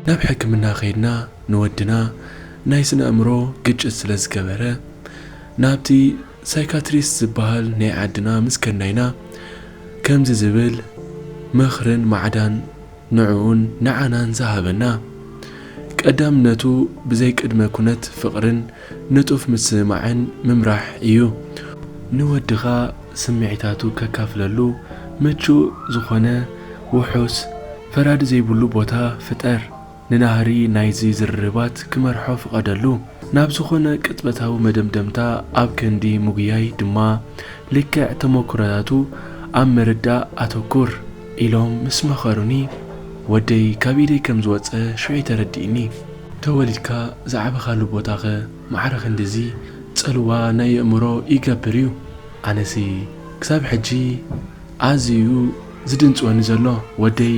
ናብ ሕክምና ከይድና ንወድና ናይ ስነ ኣእምሮ ግጭት ስለ ዝገበረ ናብቲ ሳይካትሪስት ዝበሃል ናይ ዓድና ምስ ከድናይና ከምዚ ዝብል ምኽርን ማዕዳን ንዕኡን ንዓናን ዝሃበና ቀዳምነቱ ብዘይ ቅድመ ኩነት ፍቕርን ንጡፍ ምስምማዕን ምምራሕ እዩ። ንወድኻ ስምዒታቱ ከካፍለሉ ምቹእ ዝኾነ ውሑስ ፈራዲ ዘይብሉ ቦታ ፍጠር። ንናህሪ ናይዚ ዝርርባት ክመርሖ ፍቐደሉ። ናብ ዝኾነ ቅጽበታዊ መደምደምታ ኣብ ክንዲ ምጉያይ ድማ ልክዕ ተመኩሮታቱ ኣብ ምርዳእ ኣተኩር። ኢሎም ምስ መኸሩኒ ወደይ ካብ ኢደይ ከም ዝወጸ ሽዑ'ዩ ተረዲእኒ። ተወሊድካ ዝዓበኻሉ ቦታ'ኸ ማዕረ ክንድዚ ጽልዋ ናይ የእምሮ ይገብር'ዩ። ኣነሲ ክሳብ ሕጂ ኣዝዩ'ዩ ዝድንጽወኒ ዘሎ። ወደይ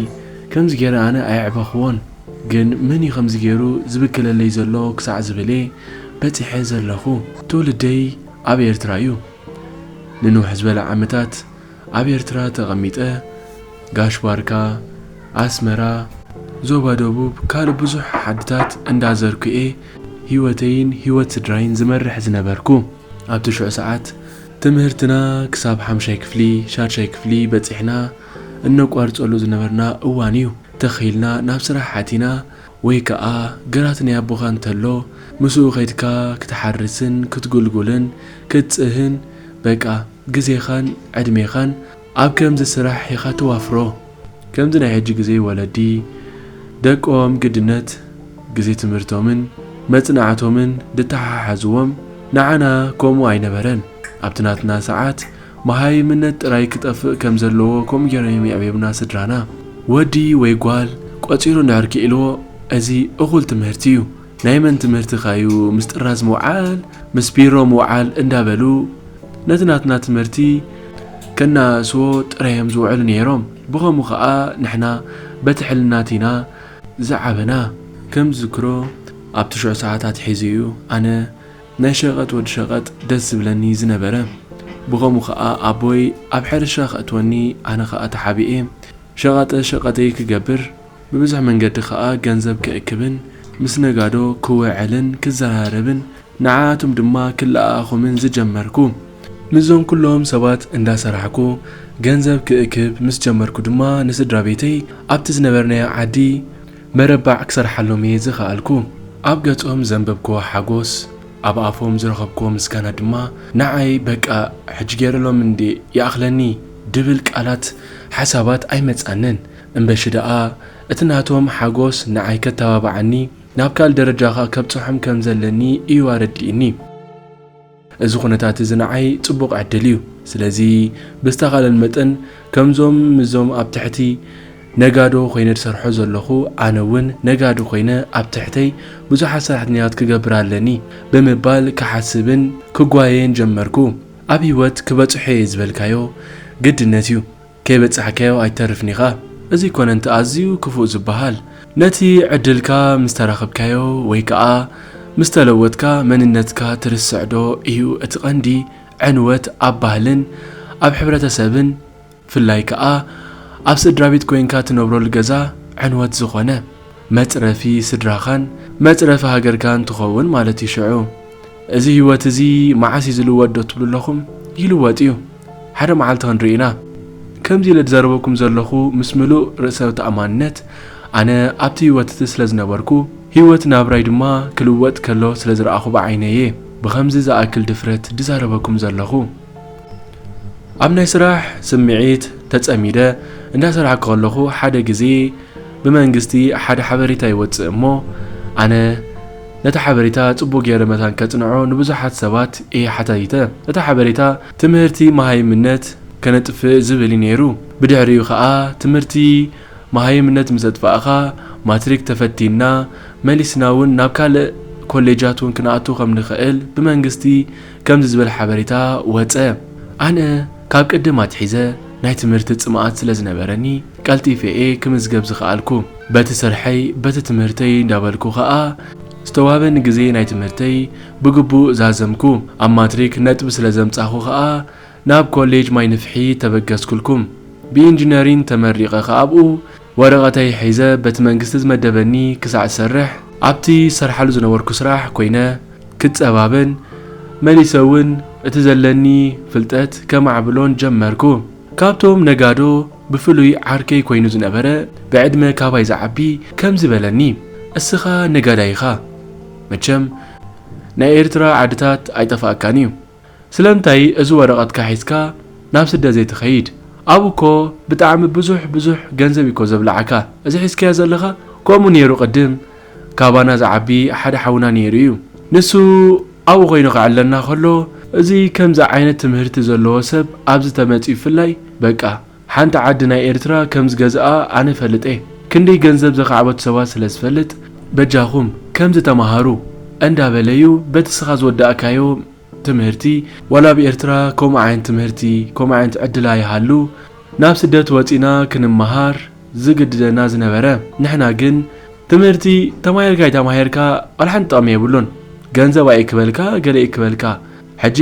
ከምዚ ገይረ ኣነ ኣየዕበኹዎን፣ ግን መን'ዩ ከምዚ ገይሩ ዝብክለለይ ዘሎ ክሳዕ ዝብል'የ በጺሐ ዘለኹ። ትውልደይ ኣብ ኤርትራ'ዩ። ንንውሕ ዝበለ ዓመታት ኣብ ኤርትራ ተቐሚጠ ጋሽ ባርካ፣ ኣስመራ፣ ዞባ ደቡብ ካልእ ብዙሕ ዓድታት እንዳ ዘርኩ'የ ሂወተይን ሂወት ስድራይን ዝመርሕ ዝነበርኩ። ኣብ ትሽዑ ሰዓት ትምህርትና ክሳብ ሓምሻይ ክፍሊ ሻድሻይ ክፍሊ በጺሕና እነቋርጸሉ ዝነበርና እዋን'ዩ። ትኽ ኢልና ናብ ስራሕ ኣቲና ወይ ከኣ ግራት ናይ ኣቦኻ እንተሎ ምስኡ ከድካ ክትሓርስን ክትጉልጉልን ክትጽህን በቃ። ግዜኻን ዕድሜኻን ኣብ ከምዚ ስራሕ ኢኻ ተዋፍሮ ከምዚ ናይ ሕጂ ግዜ ወለዲ ደቆም ግድነት ግዜ ትምህርቶምን መጽናዕቶምን ድተሓሓዝዎም ንዓና ከምኡ ኣይነበረን ኣብቲ ናትና ሰዓት መሃይምነት ጥራይ ክጠፍእ ከም ዘለዎ ከምኡ ጌሮም እዮም የዕብዮምና ስድራና ወዲ ወይ ጓል ቆጺሩ እንድሕር ኪኢልዎ እዚ እኹል ትምህርቲ እዩ ናይ መን ትምህርቲ'ኸ'ዩ ምስ ጥራዝ ምውዓል፣ ምስ ቢሮ ምውዓል እንዳበሉ ነቲ ናትና ትምህርቲ ከነኣእስዎ ጥራይ'ዮም ዝውዕሉ ነይሮም። ብኸምኡ ከኣ ንሕና በቲ ሕልናት ኢና ዝዓበና። ከም ዝዝክሮ ኣብ ትሽዑ ሰዓት ኣትሒዙ'ዩ ኣነ ናይ ሸቐጥ ወዲ ሸቐጥ ደስ ዝብለኒ ዝነበረ። ብኸምኡ ከኣ ኣቦይ ኣብ ሕርሻ ከእትወኒ ኣነ ከኣ ተሓቢኤ ሸቓጠ ሸቐጠይ ክገብር። ብብዙሕ መንገዲ ከኣ ገንዘብ ክእክብን ምስ ነጋዶ ክውዕልን ክዘራረብን ንዓኣቶም ድማ ክለኣኣኹምን ዝጀመርኩ። ምስዞም ኩሎም ሰባት እንዳሰራሕኩ ገንዘብ ክእክብ ምስ ጀመርኩ ድማ ንስድራቤተይ ኣብቲ ዝነበርናዮ ዓዲ መረባዕ ክሰርሓሎም እየ ዝኸኣልኩ። ኣብ ገጾም ዘንበብኩዎ ሓጎስ፣ ኣብ ኣፎም ዝረኸብኩዎ ምስጋና ድማ ንዓይ በቃ ሕጂ ገይረሎም እንድየ ይኣኽለኒ ድብል ቃላት ሓሳባት ኣይመጻንን። እምበሺ ደኣ እቲ ናቶም ሓጎስ ንዓይ ከተባብዓኒ ናብ ካልእ ደረጃ ከኣ ከብጽሖም ከም ዘለኒ እዩ ኣረዲእኒ። እዚ ኩነታት እዚ ንዓይ ጽቡቕ ዕድል እዩ። ስለዚ ብዝተኻለን መጠን ከምዞም ምስዞም ኣብ ትሕቲ ነጋዶ ኮይነ ዝሰርሖ ዘለኹ ኣነ እውን ነጋዲ ኮይነ ኣብ ትሕተይ ብዙሓት ሰራሕተኛታት ክገብር ኣለኒ ብምባል ክሓስብን ክጓየይን ጀመርኩ። ኣብ ህይወት ክበጽሖ እየ ዝበልካዮ ግድነት እዩ ከይበጻሕካዮ ኣይትተርፍን ኢኻ፣ እዚ ኮነንት ኣዝዩ ክፉእ ዝበሃል ነቲ ዕድልካ ምስ ተራኽብካዮ ወይ ከኣ ምስ ተለወጥካ መንነትካ ትርስዕዶ ኢዩ እቲ ቀንዲ ዕንወት ኣብ ባህልን ኣብ ሕብረተሰብን ፍላይ ከኣ ኣብ ስድራቤት ኮይንካ ትነብረሉ ገዛ ዕንወት ዝኾነ መጽረፊ ስድራኻን መጽረፊ ሃገርካን ትኸውን ማለት ኢዩ ሽዑ እዚ ሂወት እዚ መዓስ ኢዩ ዝልወጥ ዶ ትብሉ ኣለኹም ይልወጥ ኢዩ ሓደ መዓልቲ ክንርኢ ኢና። ከምዚ ኢለ ዝዘረበኩም ዘለኹ ምስ ምሉእ ርእሰ ተኣማንነት ኣነ ኣብቲ ህይወት እቲ ስለ ዝነበርኩ፣ ህይወት ናብራይ ድማ ክልወጥ ከሎ ስለ ዝረኣኹ ብዓይነይ እየ ብኸምዚ ዝኣክል ድፍረት ዝዛረበኩም ዘለኹ። ኣብ ናይ ስራሕ ስምዒት ተጸሚደ እንዳ ሰራሕኩ ከለኹ ሓደ ግዜ ብመንግስቲ ሓደ ሓበሬታ ይወጽእ እሞ ኣነ ነቲ ሓበሬታ ጽቡቕ ገይረ መታን ከጽንዖ ንብዙሓት ሰባት እየ ሓታቲተ። እቲ ሓበሬታ ትምህርቲ መሃይምነት ከነጥፍእ ዝብል እዩ ነይሩ። ብድሕሪኡ ከኣ ትምህርቲ መሃይምነት ምስ ኣጥፋእኻ ማትሪክ ተፈቲንና መሊስና እውን ናብ ካልእ ኮሌጃት እውን ክንኣቱ ከም ንኽእል ብመንግስቲ ከምዚ ዝበለ ሓበሬታ ወጸ። ኣነ ካብ ቅድም ኣትሒዘ ናይ ትምህርቲ ጽምኣት ስለ ዝነበረኒ ቀልጢፌ'የ ክምዝገብ ዝኸኣልኩ። በቲ ስርሐይ በቲ ትምህርተይ እንዳበልኩ ከኣ ዝተዋበ ንግዜ ናይ ትምህርተይ ብግቡእ ዛዘምኩ። ኣብ ማትሪክ ነጥቢ ስለ ዘምጻኹ ከኣ ናብ ኮሌጅ ማይ ንፍሒ ተበገስኩልኩም። ብኢንጂነሪን ተመሪቐ ከኣ'ብኡ ወረቐተይ ሒዘ በቲ መንግስቲ ዝመደበኒ ክሳዕ ዝሰርሕ ኣብቲ ዝሰርሓሉ ዝነበርኩ ስራሕ ኮይነ ክጸባበን መሊሰ ውን እቲ ዘለኒ ፍልጠት ከማዕብሎን ጀመርኩ። ካብቶም ነጋዶ ብፍሉይ ዓርከይ ኮይኑ ዝነበረ ብዕድመ ካባይ ዝዓቢ ከምዚ በለኒ እስኻ ነጋዳይ ኢኻ መቸም ናይ ኤርትራ ዓድታት ኣይጠፋኣካን እዩ። ስለምንታይ እዚ ወረቀትካ ሒዝካ ናብ ስደት ዘይትከይድ ኣብኡ እኮ ብጣዕሚ ብዙሕ ብዙሕ ገንዘብ እዩ እኮ ዘብላዓካ እዚ ሒዝካዮ ዘለካ ከምኡ ኔሩ ቅድም ካባና ዝዓቢ ሓደ ሓውና ኔሩ እዩ ንሱ ኣብኡ ኮይኑ ከዕለና ከሎ እዚ ከምዚ ዓይነት ትምህርቲ ዘለዎ ሰብ ኣብዚ ተመጺኡ ብፍላይ በቃ ሓንቲ ዓዲ ናይ ኤርትራ ከም ዝገዝኣ ኣነ እፈልጥ እየ ክንደይ ገንዘብ ዘኻዕበቱ ሰባት ስለ ዝፈልጥ በጃኹም ከምዚ ተማሃሩ እንዳ በለ እዩ በቲ እስኻ ዝወዳእካዮ ትምህርቲ ዋላ ኣብ ኤርትራ ከምኡ ዓይነት ትምህርቲ ከምኡ ዓይነት ዕድል ኣይሃሉ ናብ ስደት ወጺና ክንመሃር ዝግድደና ዝነበረ ንሕና ግን ትምህርቲ ተማሂርካ ኣይተማሂርካ ዋላ ሓንቲ ጥቕሚ የብሉን ገንዘብ ኣይእክበልካ ገለ ይእክበልካ ሕጂ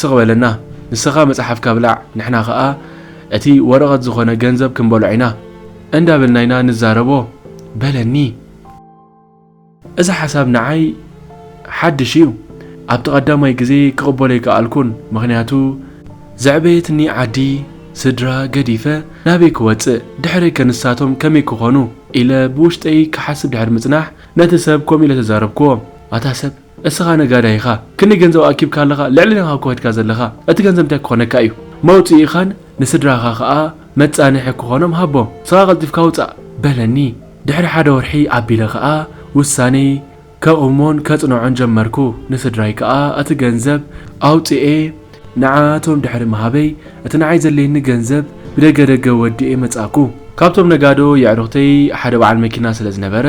ስቅ በለና ንስካ መጽሓፍካ ብላዕ ንሕና ከኣ እቲ ወረቀት ዝኮነ ገንዘብ ክንበልዖ ኢና እንዳ በልና ኢና ንዛረቦ በለኒ። እዚ ሓሳብ ንዓይ ሓድሽ እዩ ኣብቲ ቀዳማይ ግዜ ክቅበሎ ኣይከኣልኩን ምክንያቱ፣ ዘዕበየትኒ ዓዲ ስድራ ገዲፈ ናበይ ክወጽእ ድሕረይ ከ ንሳቶም ከመይ ክኮኑ ኢለ ብውሽጠይ ክሓስብ ድሕሪ ምጽናሕ ነቲ ሰብ ከምኡ ኢለ ተዛረብክዎ ኣታ ሰብ፣ እስኻ ነጋዳይ ኢኻ ክንደይ ገንዘብ ኣኪብካ ኣለኻ ልዕልና ኢኻ ኮትካ ዘለኻ እቲ ገንዘብ እንታይ ክኾነካ እዩ መውጽኢኻን ንስድራኻ ከኣ መጻንሒ ክኾኖም ሃቦም እስኻ ቀልጢፍካ ውጻእ በለኒ ድሕሪ ሓደ ወርሒ ኣቢለ ከኣ ውሳኔይ ከቁሞን ከጽንዖን ጀመርኩ ንስድራይ ከኣ እቲ ገንዘብ ኣውጺኤ ንዓኣቶም ድሕሪ ምሃበይ እቲ ንዓይ ዘድልየኒ ገንዘብ ብደገ ደገ ወዲኤ መጻእኩ። ካብቶም ነጋዶ የዕሩኽተይ ሓደ በዓል መኪና ስለ ዝነበረ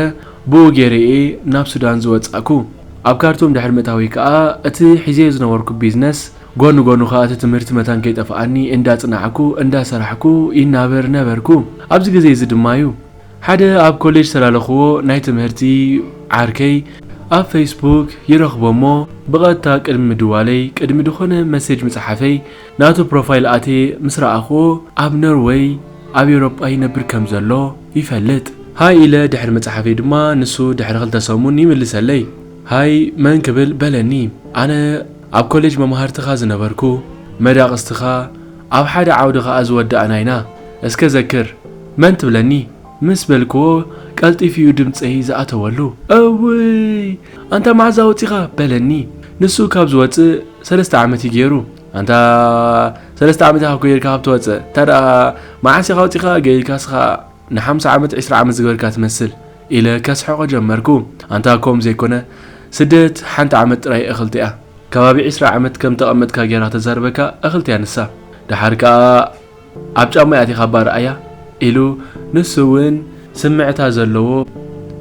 ብኡ ገይረ'የ ናብ ሱዳን ዝወጻእኩ። ኣብ ካርቱም ድሕሪ ምእታወይ ከኣ እቲ ሒዘዮ ዝነበርኩ ቢዝነስ፣ ጎኒ ጎኑ ከኣ እቲ ትምህርቲ መታን ከይጠፍኣኒ እንዳጽናዕኩ እንዳሰራሕኩ ይናበር ነበርኩ። ኣብዚ ግዜ'ዚ ድማ'ዩ ሓደ ኣብ ኮሌጅ ዝተላለኹዎ ናይ ትምህርቲ ዓርከይ ኣብ ፈይስቡክ ይረኽቦ'ሞ ብቐጥታ ቅድሚ ምድዋለይ ቅድሚ ድኾነ መሴጅ ምጽሓፈይ ናቱ ፕሮፋይል ኣትየ ምስ ረኣኹዎ ኣብ ኖርወይ ኣብ ኤውሮጳ ይነብር ከም ዘሎ ይፈልጥ። ሃይ ኢለ ድሕሪ ምጽሓፈይ ድማ ንሱ ድሕሪ ክልተ ሰሙን ይምልሰለይ። ሃይ መን ክብል በለኒ። ኣነ ኣብ ኮሌጅ መማህርትኻ ዝነበርኩ፣ መዳቕስትኻ፣ ኣብ ሓደ ዓውዲ ከኣ ዝወዳእና ኢና። እስከ ዘክር። መን ትብለኒ? ምስ በልኩዎ ቀልጢፉ'ዩ ድምጸይ ዝኣተወሉ። እውይ ኣንታ መዓዛ ወጺኻ? በለኒ። ንሱ ካብ ዝወጽእ፣ ሰለስተ ዓመት እዩ ጌሩ ኣንታ ሰለስተ ዓመት ኢኻ ኮይርካ ካብ ትወጽእ እታ ደኣ መዓስ ኢኻ ወጺኻ ገይርካ ስኻ ንሓምሳ ዓመት ዕስራ ዓመት ዝገበርካ ትመስል ኢለ ከስሕቆ ጀመርኩ ኣንታ ከምኡ ዘይኮነ ስደት ሓንቲ ዓመት ጥራይ እኽልቲ እያ ከባቢ ዕስራ ዓመት ከም ተቐመጥካ ጌራ ተዛርበካ እኽልቲ እያ ንሳ ደሓር ከኣ ኣብ ጫሙይ ኣቲኻ እባ ርኣያ ኢሉ ንሱ እውን ስምዕታ ዘለዎ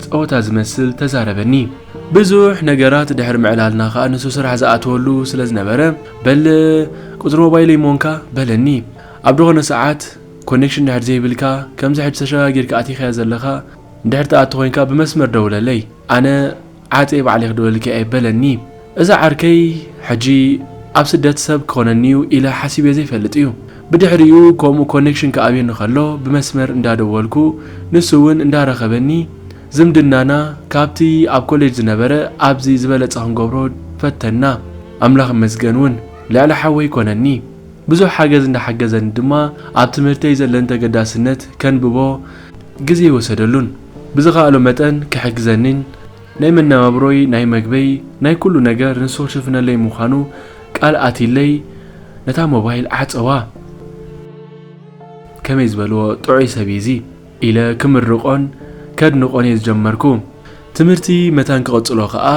ጸወታ ዝመስል ተዛረበኒ። ብዙሕ ነገራት ድሕሪ ምዕላልና ከኣ ንሱ ስራሕ ዝኣተወሉ ስለ ዝነበረ በል ቁጽሪ ሞባይለይ እሞ እንካ በለኒ። ኣብ ድኾነ ሰዓት ኮኔክሽን ድሕሪ ዘይብልካ ከምዚ ሕጂ ተሸጋጊርካ ኣቲኻያ ዘለኻ እንድሕሪ ትኣቱ ኮይንካ ብመስመር ደውለለይ ኣነ ዓፄ ባዕለይ ክድወልኪ ኣይበለኒ እዛ ዓርከይ ሕጂ ኣብ ስደት ሰብ ክኮነኒዩ ኢለ ሓሲበ ዘይፈልጥ እዩ ብድሕሪኡ ከምኡ ኮኔክሽን ክኣብየኒ ከሎ ብመስመር እንዳደወልኩ ንሱ ውን እንዳረከበኒ ዝምድናና ካብቲ ኣብ ኮሌጅ ዝነበረ ኣብዚ ዝበለፀ ክንገብሮ ፈተና ኣምላክ ይመስገን ውን ልዕሊ ሓወይ ኮነኒ ብዙሕ ሓገዝ እንዳሓገዘኒ ድማ ኣብ ትምህርተይ ዘለኒ ተገዳስነት ከንብቦ ግዜ ኣይወሰደሉን። ብዝኻኣሎ መጠን ክሕግዘኒን ናይ መነባብሮይ ናይ መግበይ ናይ ኩሉ ነገር ንሱ ክሽፍነለይ ምዃኑ ቃል ኣትይለይ ነታ ሞባይል ዓጸዋ። ከመይ ዝበልዎ ጥዑይ ሰብ እዪ እዚ። ኢለ ክምርቆን ከድንቆን እየ ዝጀመርኩ። ትምህርቲ መታን ክቕጽሎ ከኣ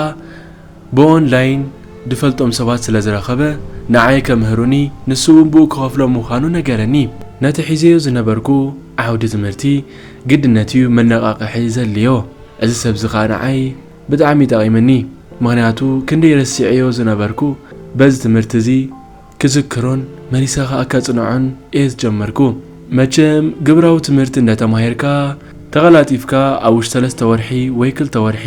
ብኦን ላይን ድፈልጦም ሰባት ስለ ዝረኸበ ንዓይ ከምህሩኒ ንሱ'ውን ብኡ ክኸፍሎ ምዃኑ ነገረኒ። ነቲ ሒዘዮ ዝነበርኩ ዓውዲ ትምህርቲ ግድነት እዩ መነቓቕሒ ዘድልዮ። እዚ ሰብ'ዚ ከኣ ንዓይ ብጣዕሚ ጠቒምኒ። ምኽንያቱ ክንደይ ረሲዐዮ ዝነበርኩ በዚ ትምህርቲ እዚ፣ ክዝክሮን መሊሰ ከኣ ከጽንዖን እየ ዝጀመርኩ። መቸም ግብራዊ ትምህርቲ እንደ ተማሂርካ ተቐላጢፍካ ኣብ ውሽጢ ሰለስተ ወርሒ ወይ ክልተ ወርሒ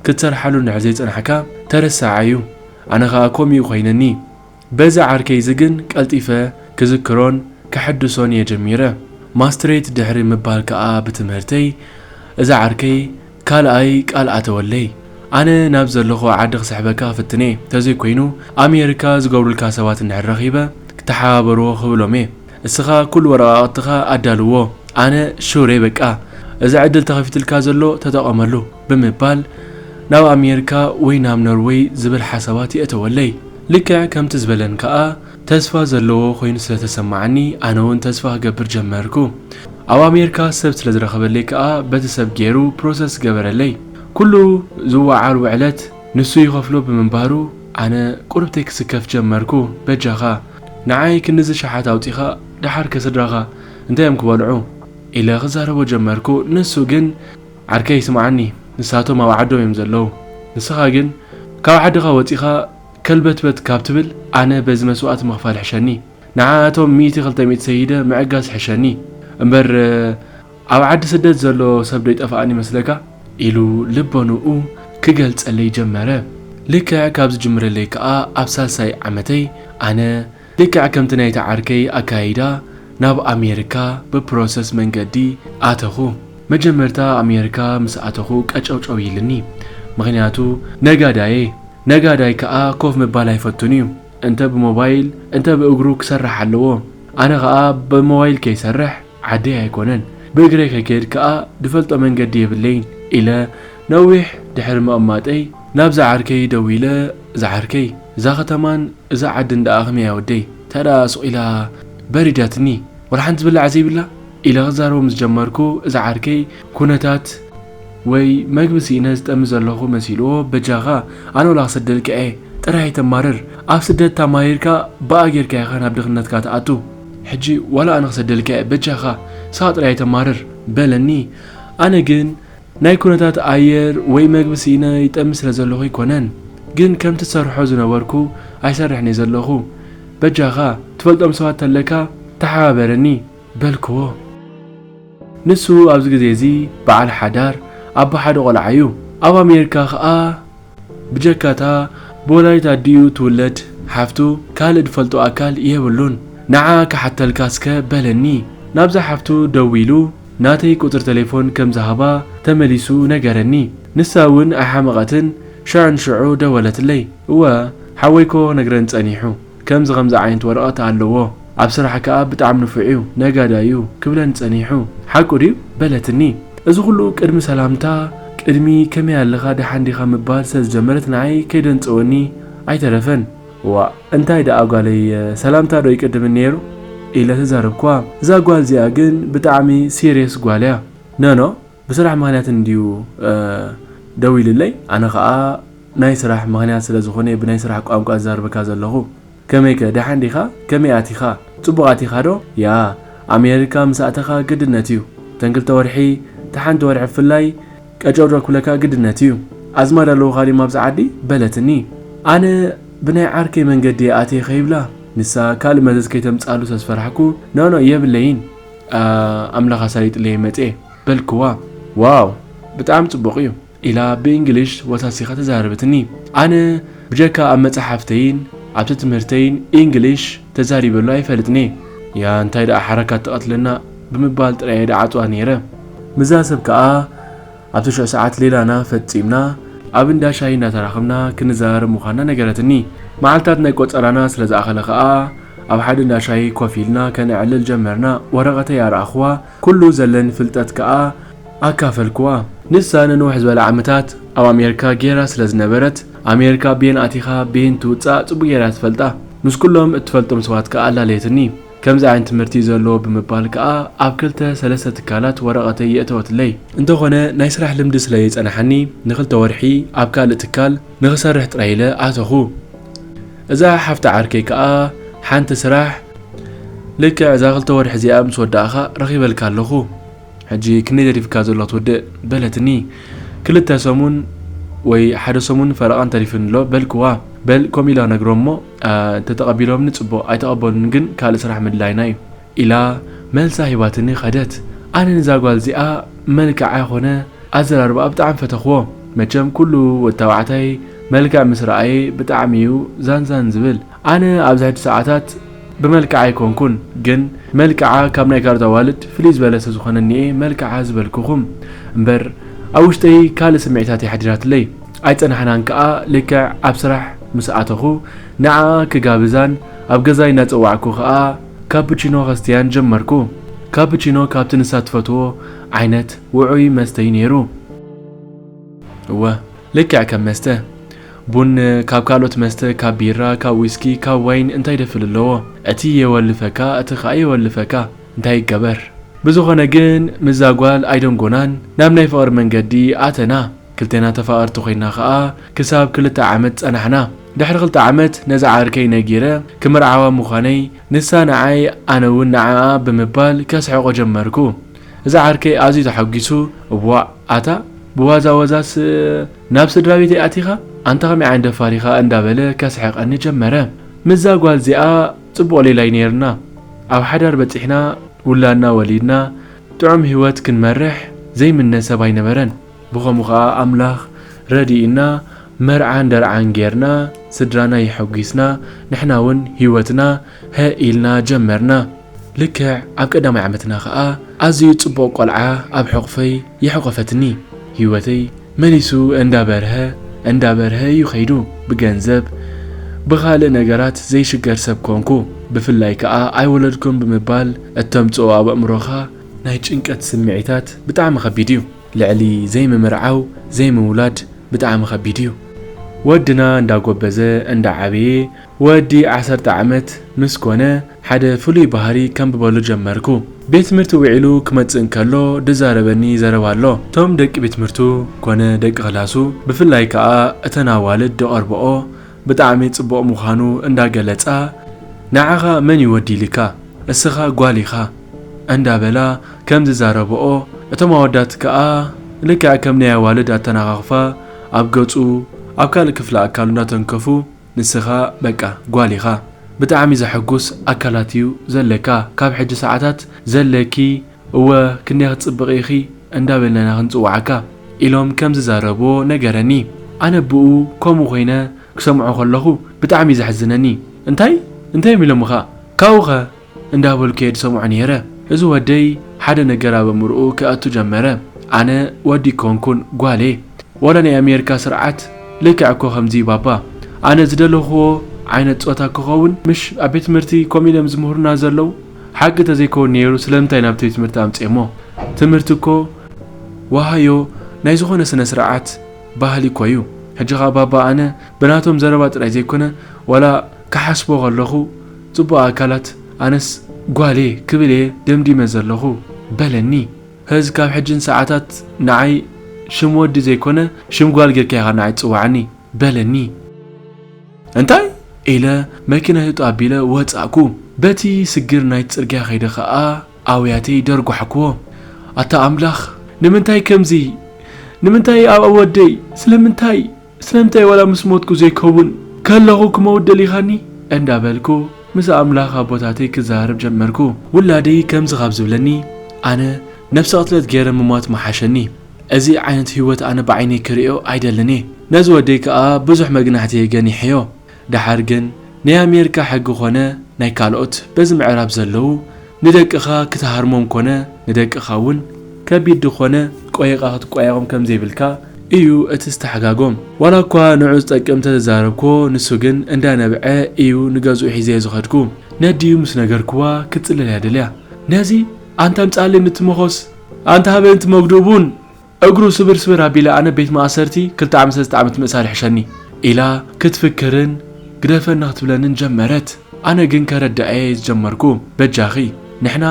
ክትሰርሓሉ እንድሕር ዘይጸናሕካ ተረሳዓይ እዩ። ኣነ ከኣ ኮምኡ ኮይነኒ። በዚ ዓርከይ እዚ ግን ቀልጢፈ ክዝክሮን ከሐድሶን እየ ጀሚረ። ማስትሬት ድሕሪ ምባል ከኣ ብትምህርተይ እዛ ዓርከይ ካልኣይ ቃል ኣተወለይ ኣነ ናብ ዘለክዎ ዓዲ ክስሕበካ ክፍትን እየ ተዘይ ኮይኑ ኣሜርካ ዝገብሩልካ ሰባት እንድሕር ረኪበ ክተሓባበርዎ ክብሎም እየ እስካ ኩሉ ወረቃቅትካ ኣዳልዎ ኣነ ሹር እየ በቃ እዚ ዕድል ተከፊትልካ ዘሎ ተጠቀመሉ ብምባል ናብ ኣሜርካ ወይ ናብ ኖርወይ ዝብል ሓሳባት የእተወለይ ልክዕ ከምቲ ዝበለን ከኣ ተስፋ ዘለዎ ኮይኑ ስለ ተሰማዓኒ ኣነውን ተስፋ ክገብር ጀመርኩ ኣብ ኣሜርካ ሰብ ስለ ዝረከበለይ ከኣ በቲ ሰብ ጌሩ ፕሮሰስ ገበረለይ ኩሉ ዝወዓል ውዕለት ንሱ ይከፍሎ ብምንባሩ ኣነ ቁርብተይ ክስከፍ ጀመርኩ በጃካ ንዓይ ክንድዚ ሸሓት ኣውጺካ ደሓር ከ ስድራካ እንታይ እዮም ክበልዑ ኢለ ክዛረቦ ጀመርኩ ንሱ ግን ዓርከይ ስምዓኒ ንሳቶም ኣብ ዓዶም እዮም ዘለዉ ንስካ ግን ካብ ዓድካ ወጺካ ከልበትበት ካብ ትብል ኣነ በዚ መስዋእቲ ምኽፋል ሕሸኒ ንዓኣቶም ሚእቲ ክልተ ሚእቲ ሰይደ ምዕጋስ ሕሸኒ እምበር ኣብ ዓዲ ስደት ዘሎ ሰብ ዶ ይጠፋኣኒ ይመስለካ? ኢሉ ልቦንኡ ክገልጸለይ ጀመረ ልክዕ ካብ ዝጅምረለይ ከኣ ኣብ ሳልሳይ ዓመተይ ኣነ ልክዕ ከምቲ ናይቲ ዓርከይ ኣካያይዳ ናብ ኣሜርካ ብፕሮሰስ መንገዲ ኣተኹ መጀመርታ ኣሜርካ ምስ ኣተኹ ቀጨውጨው ኢልኒ ምኽንያቱ ነጋዳየ ነጋዳይ ክኣ ኮፍ ምባል ኣይፈቱን እዩ እንተ ብሞባይል እንተ ብእግሩ ክሰርሕ ኣለዎ ኣነ ክኣ ብሞባይል ከይሰርሕ ዓደይ ኣይኮነን ብእግረይ ከይከድ ከኣ ድፈልጦ መንገዲ የብለይን ኢለ ነዊሕ ድሕሪ ምቕማጠይ ናብ ዝዓርከይ ደዊለ ዝዓርከይ እዛ ከተማን እዛ ዓድን ደኣ ከመይ እያ ወደይ ተደኣ ሱቕ ኢላ በሪዳትኒ ወላሓንቲ ዝብላዕ ዘይብላ ኢለ ክዛረቦ ምስ ጀመርኩ እዚ ዓርከይ ኩነታት ወይ መግቢ ስኢነ ዝጠሚ ዘለኹ መሲልዎ በጃኻ ኣነ ወላ ክሰደልካ እየ ጥራይ ኣይተማርር ኣብ ስደት ታማሪርካ ብኣ ጌርካ ኢኻ ናብ ድኽነትካ ትኣቱ ሕጂ ዋላ ኣነ ክሰደልካ እየ በጃኻ ንስኻ ጥራይ ኣይተማርር በለኒ ኣነ ግን ናይ ኩነታት ኣየር ወይ መግቢ ስኢነ ይጠሚ ስለ ዘለኹ ኣይኮነን ግን ከምቲ ዝሰርሖ ዝነበርኩ ኣይሰርሕን እየ ዘለኹ በጃኻ ትፈልጦም ሰባት ተለካ ተሓባበረኒ በልክዎ። ንሱ ኣብዚ ግዜ እዚ በዓል ሓዳር ኣቦ ሓደ ቆልዓ እዩ። ኣብ ኣሜሪካ ከኣ ብጀካ እታ ብወላዲት ኣዲኡ ትውለድ ሓፍቱ ካልእ ዝፈልጦ ኣካል የብሉን። ንዓኣ ክሓተልካ እስከ በለኒ። ናብዛ ሓፍቱ ደዊሉ ናተይ ቁጽሪ ተሌፎን ከም ዝሃባ ተመሊሱ ነገረኒ። ንሳ እውን ኣይሓመቐትን ሽዑ ንሽዑ ደወለትለይ። እወ ሓወይኮ ክነግረኒ ጸኒሑ። ከምዚ ከምዚ ዓይነት ወረቀት ኣለዎ ኣብ ስራሕ ከኣ ብጣዕሚ ንፉዕ እዩ ነጋዳይ እዩ ክብለኒ ጸኒሑ ሓቁ ድዩ በለትኒ እዚ ኩሉ ቅድሚ ሰላምታ ቅድሚ ከመይ ኣለኻ ደሓን ዲኻ ምባል ስለ ዝጀመረት ንዓይ ከይደንጸወኒ ኣይተረፈን እዋእ እንታይ ደኣ ጓለይ ሰላምታ ዶ ይቅድምን ኔሩ ኢለ ተዛረብክዋ እዛ ጓል እዚኣ ግን ብጣዕሚ ሲርየስ ጓል እያ ኖኖ ብስራሕ ምክንያት እንድዩ ደው ኢሉለይ ኣነ ከኣ ናይ ስራሕ ምክንያት ስለ ዝኮነየ ብናይ ስራሕ ቋንቋ ዝዛርበካ ዘለኩ ከመይከ ደሓን ዲካ ከመይ ኣቲካ ጽቡቅ ኣቲካ ዶ ያኣ ኣሜርካ ምስ ኣተካ ግድነት እዩ ተን ክልተ ወርሒ እታ ሓንቲ ወርሒ ብፍላይ ቀጨውጨው ክብለካ ግድነት እዩ ኣዝማድ ኣለውካ ድዮም ኣብዚ ዓዲ በለትኒ ኣነ ብናይ ዓርከይ መንገዲ እየ ኣትየ ከይብላ ንሳ ካልእ መዘዝ ከይተምጽኣሉ ስለ ዝፈራሕኩ ኖኖ የብለይን ኣምላኽ ኣሳሊጥለይ መጼ በልክዋ። ዋው ብጣዕሚ ጽቡቅ እዩ ኢላ ብእንግሊሽ ወሳሲካ ተዛረበትኒ ኣነ ብጀካ ኣብ መጻሓፍተይን ኣብቲ ትምህርተይን እንግሊሽ ተዛሪበሉ ኣይፈልጥንየ ያኣ እንታይ ዳኣ ሓረካት ትቀትለና ብምባል ጥራየ ድዓጽዋ ኔረ ምዛ ሰብ ካኣ ኣብቲ ሽዑ ሰዓት ሌላና ፈጺምና ኣብ እንዳ ሻሂ እንዳተራኸብና ክንዘራረብ ምዃንና ነገረትኒ። መዓልታት ናይ ቆጸራና ስለ ዝኣኸለ ከኣ ኣብ ሓደ እንዳ ሻሂ ኮፍ ኢልና ከነዕልል ጀመርና። ወረቐተይ ኣርኣኹዋ፣ ኩሉ ዘለኒ ፍልጠት ከኣ ኣካፈልኩዋ። ንሳ ንንውሕ ዝበለ ዓመታት ኣብ ኣሜርካ ጌራ ስለ ዝነበረት፣ ኣሜርካ ቤን ኣቲኻ ቤን ትውጻእ ጽቡቕ ጌራ እያ ትፈልጣ። ምስ ኩሎም እትፈልጦም ሰባት ከኣ ኣላለየትኒ። ከምዚ ዓይነት ትምህርቲ እዩ ዘለዎ ብምባል ከኣ ኣብ ክልተ ሰለስተ ትካላት ወረቐተይ የእተወትለይ። እንተኾነ ናይ ስራሕ ልምዲ ስለ ዘይጸናሓኒ ንክልተ ወርሒ ኣብ ካልእ ትካል ንክሰርሕ ጥራይ ኢለ ኣተኹ። እዛ ሓፍቲ ዓርከይ ከኣ ሓንቲ ስራሕ ልክዕ እዛ ክልተ ወርሒ እዚኣ ምስ ወዳእካ ረኺበልካ ኣለኹ ሕጂ ክንደይ ተሪፍካ ዘሎ ክትውድእ በለትኒ። ክልተ ሰሙን ወይ ሓደ ሰሙን ፈረቓን ተሪፉኒ ኣሎ በልክዋ። በል ከምኡ ኢለ ክነግሮም እሞ እንተተቐቢሎምኒ ጽቡቕ ኣይተቐበሉኒ ግን ካልእ ስራሕ ምድላይና እዩ ኢላ መልሳ ሂባትኒ ከደት። ኣነ ንዛ ጓል እዚኣ መልክዓ ኮነ ኣዘራርባኣ ብጣዕሚ ፈተኽዎ። መቸም ኩሉ ወድ ታባዕታይ መልክዕ ምስ ረኣየ ብጣዕሚ እዩ ዛንዛን ዝብል። ኣነ ኣብዚ ሕጂ ሰዓታት ብመልክዓ ኣይኮንኩን ግን መልክዓ ካብ ናይ ካልኦት ኣዋልድ ፍልይ ዝበለ ስለ ዝኾነኒ እየ መልክዓ ዝበልኩኹም እምበር ኣብ ውሽጠይ ካልእ ስምዒታት እያ ሓዲራትለይ። ኣይጸናሕናን ከኣ ልክዕ ኣብ ስራሕ ምስ ኣተኹ ንዓኣ ክጋብዛን ኣብ ገዛይ እናጸዋዕኩ ከኣ ካፕቺኖ ከስትያን ጀመርኩ። ካፕቺኖ ካብቲ ንሳ ትፈትዎ ዓይነት ውዑይ መስተ'ዩ ነይሩ። እወ ልክዕ ከም መስተ ቡን ካብ ካልኦት መስተ ካብ ቢራ ካብ ዊስኪ ካብ ዋይን እንታይ ደፍል ኣለዎ እቲ የወልፈካ እቲ ከኣ የወልፈካ እንታይ ይገበር ብዝኾነ ግን ምስዛ ጓል ኣይደንጎናን ናብ ናይ ፍቕሪ መንገዲ ኣተና። ክልቴና ተፋቐርቲ ኮይና ከኣ ክሳብ ክልተ ዓመት ጸናሕና። ድሕሪ ክልተ ዓመት ነዛ ዓርከይ ነጊረ ክምርዓዋ ምዃነይ ንሳ ንዓይ ኣነ ውን ንዓኣ ብምባል ከስሕቖ ጀመርኩ። እዚ ዓርከይ ኣዝዩ ተሓጒሱ እዋእ ኣታ ብዋዛወዛስ ናብ ስድራቤተይ ኣቲኻ ኣንታ ከመይ ዓይነት ደፋር ኢኻ እንዳበለ ከስሕቐኒ ጀመረ። ምስዛ ጓል እዚኣ ጽቡቕ ሌላይ ኔርና ኣብ ሓዳር በጺሕና ውላድና ወሊድና ጥዑም ሂወት ክንመርሕ ዘይምነ ሰብ ኣይነበረን። ብኸምኡ ኸኣ ኣምላኽ ረዲኡና መርዓን ደርዓን ጌርና ስድራና የሐጒስና ንሕና ውን ህይወትና ሀእ ኢልና ጀመርና። ልክዕ ኣብ ቀዳማይ ዓመትና ኸኣ ኣዝዩ ጽቡቕ ቆልዓ ኣብ ሕቑፈይ የሕቖፈትኒ። ህይወተይ መሊሱ እንዳ በርሀ እንዳ በርሀ እዩ ከይዱ። ብገንዘብ ብኻልእ ነገራት ዘይሽገር ሰብ ኮንኩ። ብፍላይ ከኣ ኣይወለድኩን ብምባል እተምጽኦ ኣብ ኣእምሮኻ ናይ ጭንቀት ስምዒታት ብጣዕሚ ከቢድ እዩ። ልዕሊ ዘይምምርዓው ዘይምውላድ ብጣዕሚ ከቢድ እዩ ወድና እንዳጎበዘ እንዳዓበየ ወዲ ዓሰርተ ዓመት ምስ ኮነ ሓደ ፍሉይ ባህሪ ከንብበሉ ጀመርኩ ቤትምህርቲ ውዒሉ ክመጽእ እንከሎ ድዛረበኒ ዘረባ ኣሎ እቶም ደቂ ቤትምህርቱ ኮነ ደቂ ክላሱ ብፍላይ ከኣ እተን ኣዋልድ ድቀርበኦ ብጣዕሚ ጽቡቅ ምዃኑ እንዳ ገለጻ ንዓኻ መን እዩ ወዲ ኢሊካ እስኻ ጓል ኢኻ እንዳ በላ ከም ዝዛረብኦ እቶም ኣወዳት ክኣ ልክዕ ከም ናይ ኣዋልድ ኣተናኻኽፋ ኣብ ገጹ ኣብ ካልእ ክፍሊ ኣካሉ እንዳ ተንከፉ ንስኻ በቃ ጓል ኢኻ ብጣዕሚ ዘሐጉስ ኣካላት እዩ ዘለካ ካብ ሕጂ ሰዓታት ዘለኪ እወ ክንደይ ክትጽብቒ ኢኺ እንዳ በልና ክንጽውዓካ ኢሎም ከም ዝዛረብዎ ነገረኒ ኣነ ብኡ ከምኡ ኮይነ ክሰምዖ ከለኹ ብጣዕሚ እዩ ዘሕዝነኒ እንታይ እንታዮም ኢሎምኻ ካብኡኸ እንዳ በልኩ እየ ዝሰምዖ ኔረ እዚ ወደይ ሓደ ነገር ኣብ ኣእምርኡ ከእቱ ጀመረ ኣነ ወዲ ኣይኮንኩን ጓል እየ ዋላ ናይ ኣሜርካ ስርዓት ልክዕ እኮ ከምዚ እዩ ባባ ኣነ ዝደለኽዎ ዓይነት ጾታ ክኸውን ምሽ ኣብ ቤት ትምህርቲ ከምኡ ኢሎም ዝምህሩና ዘለዉ ሓቂ ተዘይከውን ኔሩ ስለምንታይ ናብ ቤት ትምህርቲ ኣምጼሞ ትምህርቲ እኮ ዋሃዮ ናይ ዝኾነ ስነ ስርዓት ባህሊ እኮ እዩ ሕጂ ከኣ ባባ ኣነ ብናቶም ዘረባ ጥራይ ዘይኮነ ዋላ ክሓስቦ ከለኹ ጽቡቅ ኣካላት ኣነስ ጓል እየ ክብል እየ ደምዲመ ዘለኹ በለኒ ሀዝ ካብ ሕጂ ንሰዓታት ንዓይ ሽም ወዲ ዘይኮነ ሽም ጓል ጌርካ ኢኻ ንዓይ ትጽውዓኒ በለኒ። እንታይ? ኢለ መኪና ህይወቱ ኣቢለ ወጻእኩ። በቲ ስግር ናይቲ ጽርግያ ከይደ ከኣ ኣውያተይ ደርጓሕኩዎ። ኣታ ኣምላኽ! ንምንታይ ከምዚ? ንምንታይ ኣብ ወደይ? ስለምንታይ? ስለምንታይ ዋላ ምስ ሞትኩ ዘይከውን? ከለኹ ክመውት ደሊኻኒ? እንዳበልኩ ምስ ኣምላኽ ኣቦታተይ ክዘራረብ ጀመርኩ። ውላደይ ከምዚ ካብ ዝብለኒ ኣነ ነብሰ ቅትለት ገይረ ምሟት ምሓሸኒ። እዚ ዓይነት ሂወት ኣነ ብዓይነይ ክርእዮ ኣይደልን እየ ነዚ ወደይ ከኣ ብዙሕ መግናሕቲ እየ ገኒሐዮ ደሓር ግን ናይ ኣሜርካ ሕጊ ኮነ ናይ ካልኦት በዚ ምዕራብ ዘለዉ ንደቅካ ክትሃርሞም ኮነ ንደቅካ ውን ከቢድ ድኮነ ቆይቃ ክትቆያቆም ከምዘይብልካ እዩ እቲ ዝተሓጋጎም ዋላ እኳ ንዑ ዝጠቅም ተዘዛረብክዎ ንሱ ግን እንዳ ነብዐ እዩ ንገዝኡ ሒዘዮ ዝከድኩ ነዲኡ ምስ ነገርክዋ ክትጽለል እያ ደልያ ነዚ ኣንታ ኣምጻኣለይ ምትመኮስ ኣንታ ኣበንቲ መጉድኡ ቡን እግሩ ስብርስብር ኣቢለ ኣነ ቤት ማእሰርቲ ክልተ ዓመት ሰለስተ ዓመት ምእሳር ይሕሸኒ ኢላ ክትፍክርን ግደፈና ክትብለንን ጀመረት ኣነ ግን ከረድኣየ ዝጀመርኩ በጃኺ ንሕና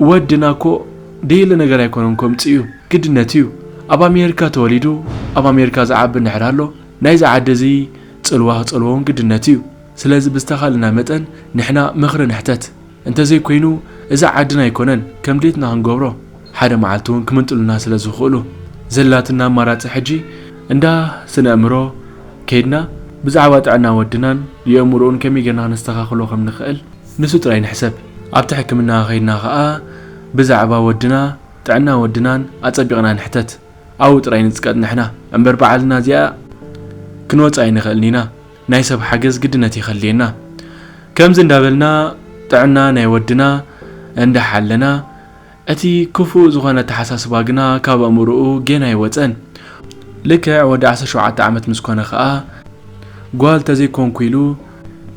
ወድና እኮ ደየለ ነገር ኣይኮነን ከምጹ እዩ ግድነት እዩ ኣብ ኣሜርካ ተወሊዱ ኣብ ኣሜርካ ዝዓቢ እንድሕር ኣሎ ናይዚ ዓዲ እዚ ጽልዋ ክጸልዎውን ግድነት እዩ ስለዚ ብዝተኻልና መጠን ንሕና ምኽሪ ንሕተት እንተዘይ ኮይኑ እዛ ዓድና ኣይኮነን ከም ድሌትና ክንገብሮ ሓደ መዓልቲ ውን ክምንጥሉና ስለ ዝኽእሉ ዘላትና ኣማራጺ ሕጂ እንዳ ስነእምሮ ከይድና ብዛዕባ ጥዕና ወድናን የእምሩኡን ከመይ ጌርና ክነስተኻኽሎ ከም ንኽእል ንሱ ጥራይ ንሕሰብ ኣብቲ ሕክምና ከይድና ከኣ ብዛዕባ ወድና ጥዕና ወድናን ኣጸቢቕና ንሕተት ኣብኡ ጥራይ ንጽቀጥ ንሕና እምበር ብዓልና እዚኣ ክንወጻ ኣይንኽእልን ኢና። ናይ ሰብ ሓገዝ ግድነት ይከልየና ከምዚ እንዳበልና ጥዕና ናይ ወድና እንዳሓለና እቲ ክፉእ ዝኮነ ኣተሓሳስባ ግና ካብ ኣእምርኡ ጌና ኣይወጸን ልክዕ ወዲ ዓሰርተ ሸውዓተ ዓመት ምስ ኮነ ከኣ ጓል ተዘይ ኮንኩ ኢሉ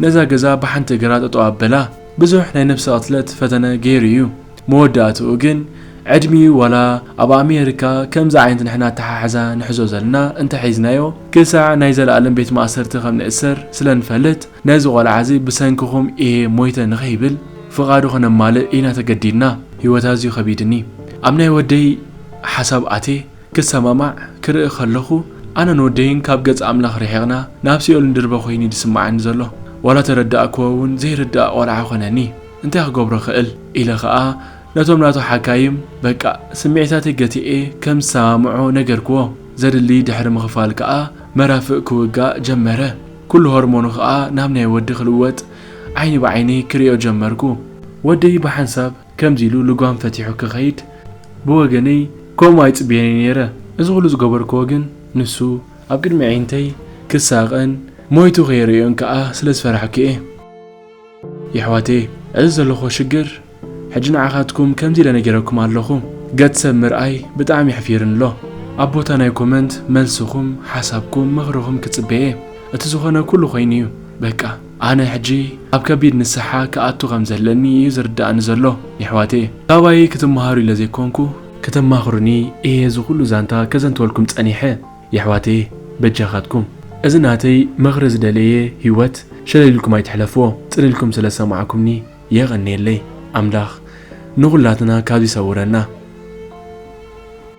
ነዛ ገዛ ብሓንቲ እግራ ጠጠው ኣበላ ብዙሕ ናይ ነብሰ ቅትለት ፈተነ ጌሩ እዩ መወዳእትኡ ግን ዕድሚኡ ዋላ ኣብ ኣሜሪካ ከምዚ ዓይነት ንሕና ኣተሓሕዛ ንሕዞ ዘለና እንተ ሒዝናዮ ክሳዕ ናይ ዘላኣለም ቤት ማእሰርቲ ከም ንእሰር ስለ ንፈልጥ ነዚ ቆልዓ እዚ ብሰንክኹም ኢየ ሞይተ ንኸይብል ፍቓዱ ክነማልእ ኢና ተገዲድና ሂወት ኣዝዩ ከቢድኒ ኣብ ናይ ወደይ ሓሳብ ኣትየ ክሰማማዕ ክርኢ ከለኹ ኣነን ወደይን ካብ ገጽ ኣምላኽ ርሒቕና ናብ ሲኦል ንድርበ ኮይኑዩ ዝስማዓኒ ዘሎ ዋላ ተረዳእክዎ ውን ዘይርዳእ ቆልዓ ኮነኒ እንታይ ክገብሮ እኽእል? ኢለ ኸኣ ነቶም ናቱ ሓካይም በቃ ስምዒታተይ ገቲኤ ከም ዝሰማምዖ ነገርክዎ። ዘድሊ ድሕሪ ምኽፋል ከኣ መራፍእ ክውጋእ ጀመረ። ኩሉ ሆርሞኑ ከኣ ናብ ናይ ወዲ ክልወጥ ዓይኒ ብዓይኒ ክርእዮ ጀመርኩ። ወደይ ብሓንሳብ ከምዚ ኢሉ ልጓም ፈቲሑ ክኸይድ ብወገነይ ከምኡ ኣይጽብየን እየ ነይረ። እዚ ኩሉ ዝገበርክዎ ግን ንሱ ኣብ ቅድሚ ኣዒንተይ ክሳቐን ሞይቱ ከይርእዮን ከኣ ስለ ዝፈራሕኩ እየ። የሕዋተየ እዚ ዘለኹዎ ሽግር ሕጂ ንዓኻትኩም ከምዚ ኢለ ነጊረኩም ኣለኹ ገጽ ሰብ ምርኣይ ብጣዕሚ የሕፊርን ኣሎ ኣብ ቦታ ናይ ኮመንት መልስኹም ሓሳብኩም ምኽርኹም ክጽበየ እቲ ዝኾነ ኩሉ ኮይኑ እዩ በቃ ኣነ ሕጂ ኣብ ከቢድ ንስሓ ክኣቱ ከም ዘለኒ እዩ ዝርድኣኒ ዘሎ የሕዋተየ ካባይ ክትመሃሩ ኢለ ዘይኮንኩ ክተማኽሩኒ እየ እዚ ኩሉ ዛንታ ከዘንትወልኩም ጸኒሐ። የሕዋተየ በጃኻትኩም እዚ ናተይ ምኽሪ ዝደለየ ሂወት ሸለል ኢልኩም ኣይትሕለፍዎ ጽን ኢልኩም ስለ ዝሰማዕኩምኒ የቐንየለይ ኣምላኽ ንኹላትና ካብዚ ይሰውረና።